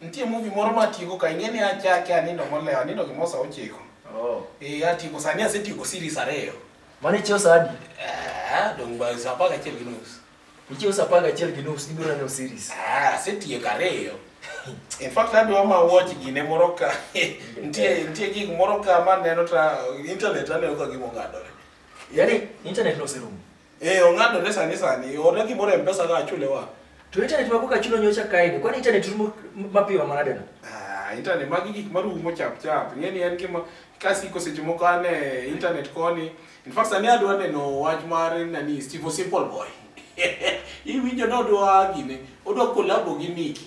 Nitie movie moro ma atieko ka ing'e ni achake anindo molewo anindo gimo sa ochiko. Oh. Eh atieko sani asetieko series ariyo. Mane ichiew sa adi? Eh dong' ba sa apar gachiel gi nus. Ichiew sa apar gachiel gi nus ibiro neno series. Ah asetieko ariyo. In fact adwa ma watch gine moro ka nitie nitie gik moro ka ma neno ta internet aneno ka gimo ng'adore. Yaani internet no serumo. Eh, ong'adore sani sani. Orna gimoro e Mpesa ka achule wa. To internet mako ka chulo nyocha kaini. Kwani internet rumo mapiyo manade no? Ah, internet magi gik marumo chap chap. Ng'eni en gima kasiko seche moko an e internet koni. In fact, sani adwa neno wach mar nani Steve Simple Boy. Iwinjo ni odwa gine, odwa kolabo gi Nicki.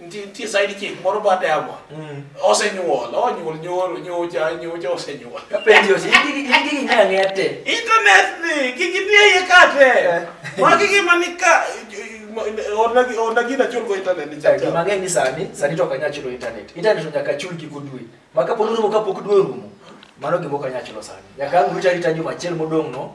Nitie nitie side chick moro bad yabo. Mm. Osenyuol, onyuol nyoro, nyocha, nyocha osenyuol. Penjo si gigi gigi nyanya ngete. Internet ni kiki nie ye kate. Magi gima ni ka ona gi ona gina chul go internet ni Gima chacha. ng'eny ni sani sani to kanya chulo internet. Internet to nyaka chul giko dwe. Maka polo rumo kapok dwe rumo. Mano gima ok anya chulo sani. Nyaka ang' rita rita juma achiel modong' no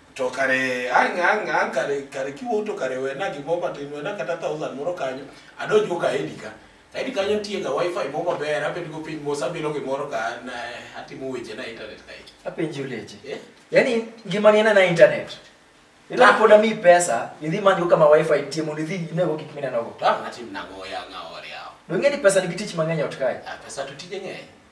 to kare ang' ang' ang' kare kare kiwuok to kare wena gimoro matin wena kata thousand moro kanyo adonjgo ka edi ka saidi kanyo ntiega wifi moro maber abedgo piny mos abilo gimoro ka an, eh, atimo weche na internet kae apenji uleje Eh? yaani ngimani ena na internet ila Ah. pod ami pesa idhi manyo kama wifi nitie mondo idhi inego gik minenogo to ang' atim nang'o yang'a ore yawo dong'e ni pesa nigi tich mang'eny ot kae Ah, pesa to tije ng'eny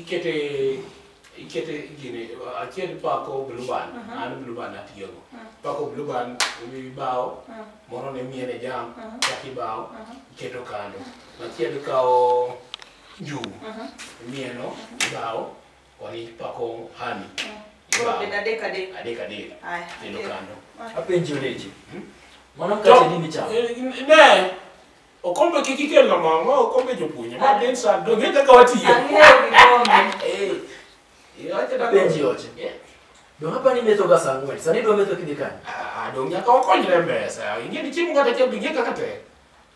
ikete ikete gini achiel pako bluban uh -huh. an bluban atiyogo uh -huh. pako bluban ibawo uh -huh. moro ne miene jam uh -huh. chak ibawo uh -huh. iketo kando machiel kawo njugu uh -huh. mieno uh -huh. ibawo koni pako hani uh -huh. Koro bed adek adek. Adek adek. Aya. Kendo kando. Apenjo leche. Hmm? Mano kache nini chamo? Eh, ne. Okombe kik ikel na mama, okombe jopuonje. Ma den sa do nge kaka watiyo. Ang'eyo kikombe. Eh. Iyo acha da. Benji oche. Be wapa ni metho ga saa ang'wen. Sani dwa metho kidhi kanye? Ah, do nyaka okonyre mbesa. Inge ni chiemo ngata chiel binge kaka te.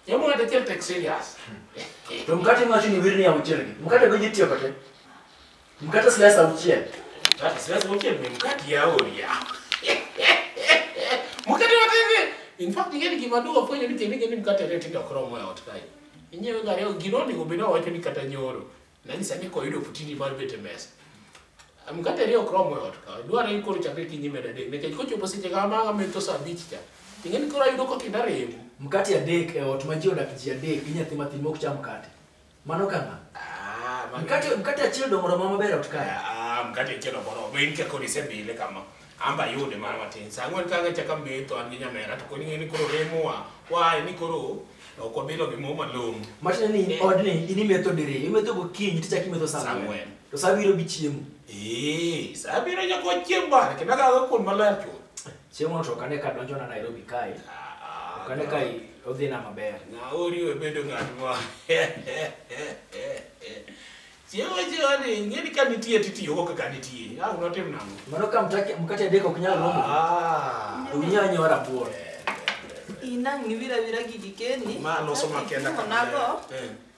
Chiemo ngata chiel tek serious. To mkate macho ni wirni ya mchele. Mkate go jitiyo kate. Mkate slice auchiel. Mkate slice auchiel ni mkate ya oria. Mkate wa TV. In fact, ingeni gima duwa fwenyo ni kende gini mkate ne tindo kromo ya ot kae. Inyewe gari o gino ni gobina wacho ni kata nyoro. Na ni sani ko yudo putini mar bete mesa. Mkate ne okromo ya ot kae. Dwa ni koro chakre kinyi meda dek. Nekech kochopo seche kama kama to saa abich cha. Ingeni koro ayudo ko kinda remo. Mkate ya dek e ot ma ji odak ji adek gi nyathi matin mok cham mkate. Mano kama. Ah, mano- Mkate mkate achiel dongo romo maber ot kae. Ah, mkate achiel ok oromo. In kaka odise bile kama. Amba ayude mana matin. Sa ang'wen ka ang'echa ka metho an gi nyamera to koni ng'e ni koro remo wa. Wae ni koro ok wabilo gi mo malong'o. Machne ni Eh. odni in imetho diri, imetho gokinyi tichak imetho saa Saa ang'wen. ang'wen. To saa biro gi chiemo. Ee, sa abiro nyako chieng' bana kendo akago kuon maler chuth. Chieng'no to ok ane ka donjona Nairobi kae, ok ane ka i- odhina maber. Na oriwe bedo ng'at ma chiemo chiemo ni ing'eni ka nitie titiyogo kaka nitie a unotim nang'o Mano ka mtake- mkate adek ok nyal romo, Ah, to unya nyawa rabuon. Inang' niwira wira gigi keni. ma loso makenda Nago, Eh,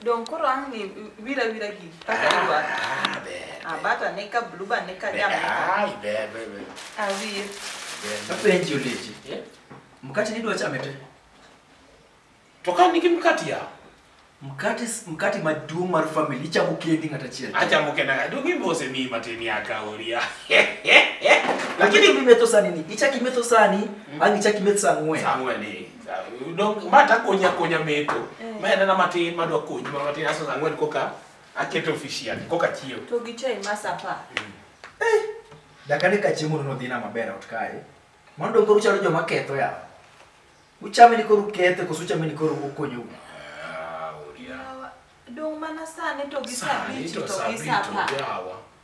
Don koro ang' ni wira wira gi. Kaka idwa. Ah, ber. Ah, bata ne ka blue ba ne ka jam ne ka. Ai, ber, ber, ber. Ah, wir. Apenji olechi. Eh? Mkate nidwa chame te. To ka nigi mkate ya. Mkate mkate maduong' mar family ichamo kendi ng'ata achiel. Achamo kenda. Donge mbose mi matin ya kaoria. Lakini imetho sani ni. Ichaki imetho sani, ang' ichaki imetho sang'wen. Sang'wen eh. Dong ma ta konya konya meto. Ma en na matin ma dwa konyi ma matin aso ang'wen koka aketo official koka chiew. To gi chai ma sapa. dakane ka chiemo no dhina maber ot kae mano dong koro chalo joma ketho ya uchame ni koro kethe koso uchame ni koro ukonyo Ah, oria. Dong mana sani to gi Sani sabiti to to gi sabito sapa. jawa.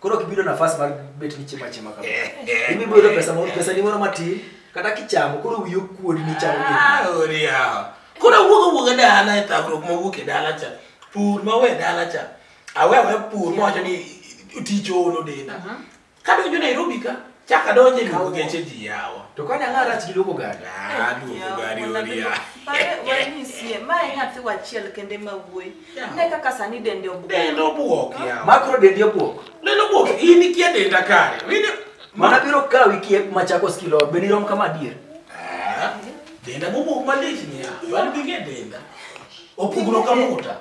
koro kibido nafas mar bet ni chiema chiema kama ibibo yudo pesa moro pesa ni moro matin kata kichamo koro wiyo kuodi ni chamo gini Ah, ori yawa koro awuok awuok e dala e thagruok mawuok e dala cha pur mawe e dala cha awe awe pur mawacho ni tich oono denda kadonjo nairobi ka Chaka donje ni Kawo. kugeche ji yawa. To kane ang'a rach gi loko gari. Ah, duogo gari ori ya. Pare wanyisie, ma e nyathi wachiel kende ma wuoyi. Yeah. Ne kaka sani dende obuok. Dendo buok yawa. Makro dendi obuok. Dendo buok in ikia denda kare. Wine. Mana biro kawi kiek machako skilo be ni rom kama adier. Ah, Denda bubuok malich ni ya. Wan bige denda. Opugno kamuta.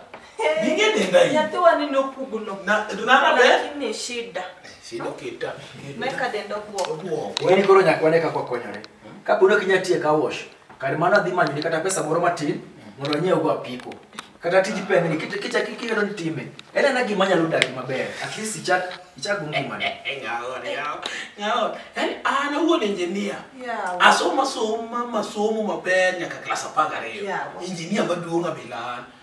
Ningedenda hii. Nyathi wani nopugno. Na nana be. Lakini shida. Shida kita. Meka dendo guo. Guo. Wewe koro nyakwane kako konyore. Kapo ne kinya tie ka wash. Kar mano adhi manyo ni kata pesa moro matin mondo anyiew go apiko. Kata tij pengni kicha kicha kikelo ni time. Ena na gima nyalo dagi maber. At least ichak ichak ngima ne. Ngao ne ngao. Ngao. Yaani ana huo engineer. Yeah. Asoma soma masomo maber nyaka class 12. Yeah. Engineer maduong' abilana.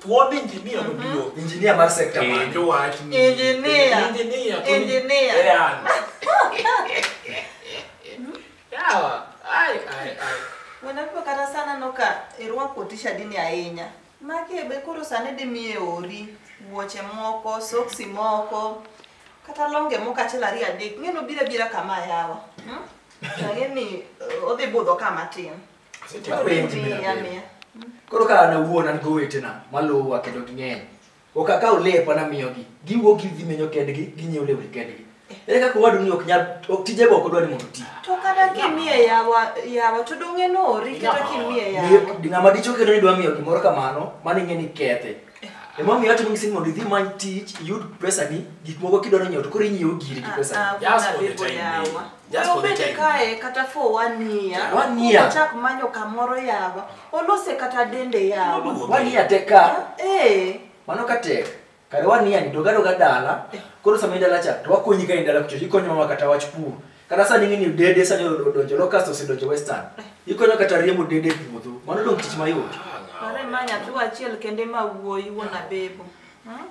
Thuon injinia maduong'. Injinia mar sekta mane? Penjo wach ni. Injinia. Injinia. to- Injinia. Yan. Yawa. Ai, ai, ai. Wanapo kata sana noka irwako tishadini ahinya. Maki be koro sani dimiye ori, wuoche moko, soksi moko, kata longe moko achiel ariyo adek. Ng'eno bira bira kama yawa. Hmm? Ang'e ni eh, odhi budho kama tin. Asepenji mia mia. mia. Koro ka an awuon an gowetena maluwa kendo ging'eny. Ok akaw lepa namiyogi. Giwuok gidhi menyo kendgi, ginyiew lewni kendgi. Ere kaka owadu ni ok nyal ok tije go ok odwa ni mondo oti. To kata kimiye yawa yawa to donge nori kata kimiye yawa. Ni- Ng'ama dicho kendo ni dwa miyo gimoro kamano, mano ing'e ni kethe. Emomiyo atimo ngisini mondo idhi many tich, iyud pesani, gik moko kidwaro nyiewo to koro inyiewo giri gi Ah, pesani. ah, Just for the Bibo time yawa. being. Just for the Obed time. kae kata for one year. One year. Ochak manyo kamoro yawa. Olose kata dende yawa. Oluwo One year tek ka. Eh. Mano ka tek. Kare one year ni doga doga dala. Koro sama idala cha to wakonyi ka idala kucho. Ikonyo mama kata wach pur. Kata sani ng'ini dede sani odonjo locust osedonjo western. Ikonyo kata riembo dede e puodho. Mano dong tich mayot. Pare ma nyathi achiel kende ma wuoyi wuon abebo. Hmm?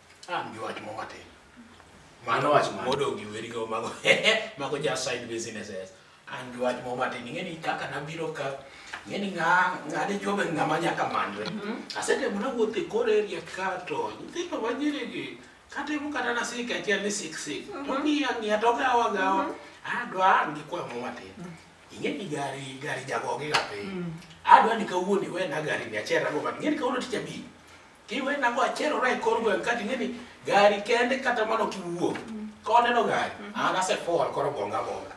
Ah, ndio watu mama tena. Mano wach mano. Modo gi weri go mago. Mago ja side businesses. Ah, ndio watu mama tena. Ngeni kaka na biro ka ngeni nga ngade jobe ngama nyaka manwe. Asende muna wote kore area ka to. Ndiko wajiri gi kate mu kata na sika tia ni sik sik. To ni ya ni atoka awa gawa. Ah, dwa ngi kwa mama tena. Ingeni gari gari jagoge gape. Ah, dwa ni kawuoni we na gari ni achera go. Ngeni kawuoni ticha bi. Tiwena go achiel ora e kor gweng' ka ting'e ni gari kende kata mano kiwuok. Ka waneno gari, an asefall koro gonga gonga.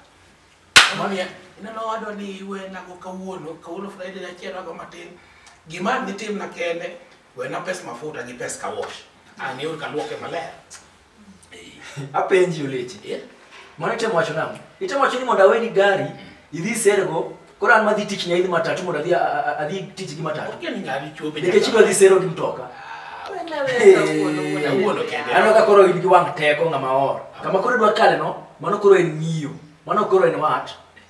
Mamiya, ineno wadwa ni iwena go kawuono, kawuono Friday achiel wago matin. Gima nitimna kende, wena pes mafuta gi pes kawosh. An yur kaluoke maler. apenji oleche Yeah. mano itemo wacho nang'o itemo wacho ni mondo aweni gari idhi sergo koro an madhi tich nyaidhi matatu mondo adhi a- a- adhi tich gi matatu Okia ni ng'abi chuope. nikech idwa dhi sero gi mtoka Awuono kende. aneno ka koro in gi wang' teko ng'ama or kama koro idwa kale no mano koro en ng'iyo mano koro en wat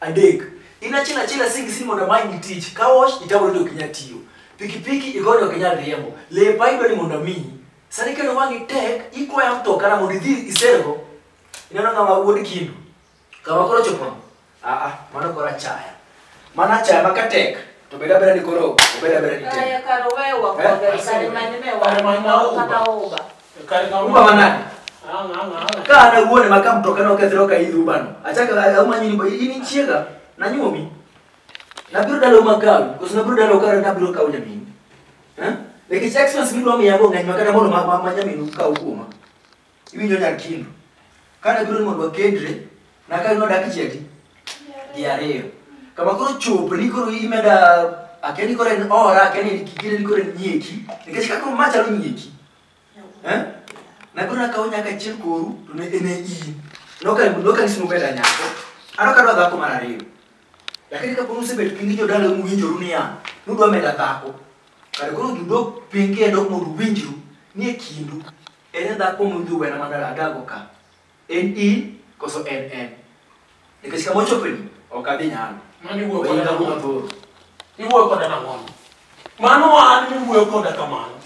Adek, in achiel achiel asing sin mondo amany tich, car wash itawori to ok inyal tiyo. Pikipiki igoyo to ok inyal riembo. Lepa idwa ni mondo amiyi. Sani kendo wang'i tek, ikwaya mtoka na mondo idhi isergo. Ineno ng'ama wuod kindu. Kama koro chopono. Ah ah, mano koro achaya. Mano achaya ma ka tek, to beda beda ni koro, obeda beda ni tek. Aya kar wewa Eh, kodhi, kar manyo me Kar manyo wa- uba. kata uba. Kare ka Uba manade. Ang ang ang. Ka ana wuone ma ka mtoka no kethro ka idhu bano. Achaka auma nyini ba ini chiega na nyuomi. Na biro dalo makawi, koso na biro dalo kare na biro kawo nyamini. Eh? Nikech expense midwa miya go ng'eny ma kata mondo ma ma- ma nyaminu kaw kuoma. Iwinjo nyar kindu. Ka na biro ni mondo wakendre, Naka yudo dakika adi? Gi ariyo. Kama koro chopo ni koro imeda akeni koro en ora akeni ni kikire ni koro en nyieki. Nikech kaka ma chalo nyieki. Eh? Na koro akawo nyaka achiel koru to ne en e iyi. Noka noka ni simo beta nyako. Ano kadwa dhako mar ariyo. Lakini ka koro usebet piny gi jodala uwinjoru niya, nudwa meda dhako. Kare koro judok piny kendo mondo uwinjru ni e kindu. En e dhako mudhi wena madala adago ka. En in koso en en? Nikech kama ochopeni ok adhi nyalo. Mano iwuoyo koda Ohinga nang'o? mathoth. Iwuoyo koda nang'o? Mano an miwuoyo koda kamano.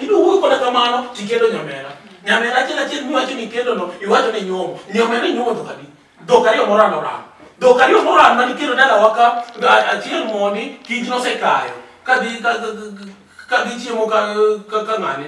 Idwa wuoyo koda kamano tikendo nyamera. Nyamera achiel achiel miwacho ni kendono iwacho ni nyuomo. Nyamera inyuomo dhok adi? Dhok ariyo morano orano. Dhok ariyo morano mani kendo dalawa ka a- achiel mondi kich nosekayo. Kadhi ka- ka- ka- kadhi chiemo ka ka- ka ng'ane.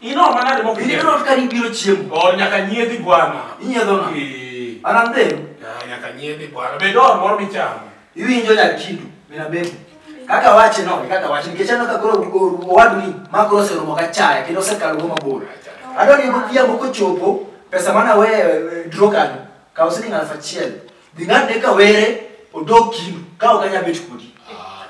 Ino manade mok Ineno nyiedho. not ka nibiro chiemo. Oh, nyaka nyiedhi bwana. Inyiedho na. Eh, An an dhero. ah, nyaka nyiedhi bwana. Be dor moro michamo. Iwinjo nyar chindu. Mina bebo. Kaka wache no, kaka wache. Nikech aneno ka koro o- owadu ni ma koro oseromo ka chaya kendo osekalo go mabor. Adwa ni godhiambo kochopo pesa mane aweyo e, e, draw kanyo. Kaw siling aluf achiel. Dhi ng'adne ka were odog kinu ka ok anyal bet kodi.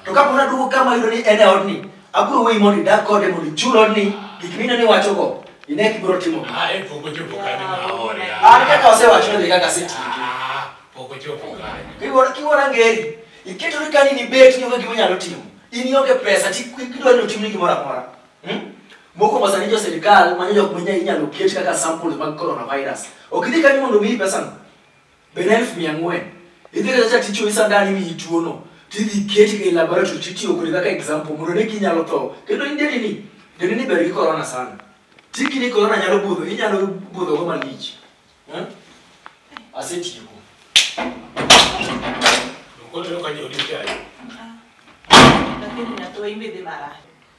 To ka pona duogo kama ayudo ni en e odni, abiro weyi mondo idag kode mondo ichul odni gik mineno ni wachogo. Ine kibiro timo. Ah, e pok ochopo kanyo ma aore. An kaka osewacho ni kaka asetiyo. Ah, pok ochopo kanyo. Kiwuora kiwuora ngeri. Iketo ni kani ni bet ni onge gima nyalo timo. In ionge pesa ti kidwa ni otimni gimoro amora. Hmm? Moko ma sani jo sirkal manyo jok manya inyalo ket kaka samples mag coronavirus. Ok idhi kanyo mondo omiyi pesa no. Be na elfu mia ang'wen? Idhi kata cha tichwo isa dani miyi tuono. Tidhi keti e laboratory titiyo kode kaka example mondo ne kinyalo tho. Kendo in deni ni, deni ni ber gi corona sana. Tiki ni corona nyalo budho, inyalo budho go malich. Hmm? Asetieko. Nokotero ka jodi chayo. Lakini natoa imbe de mara.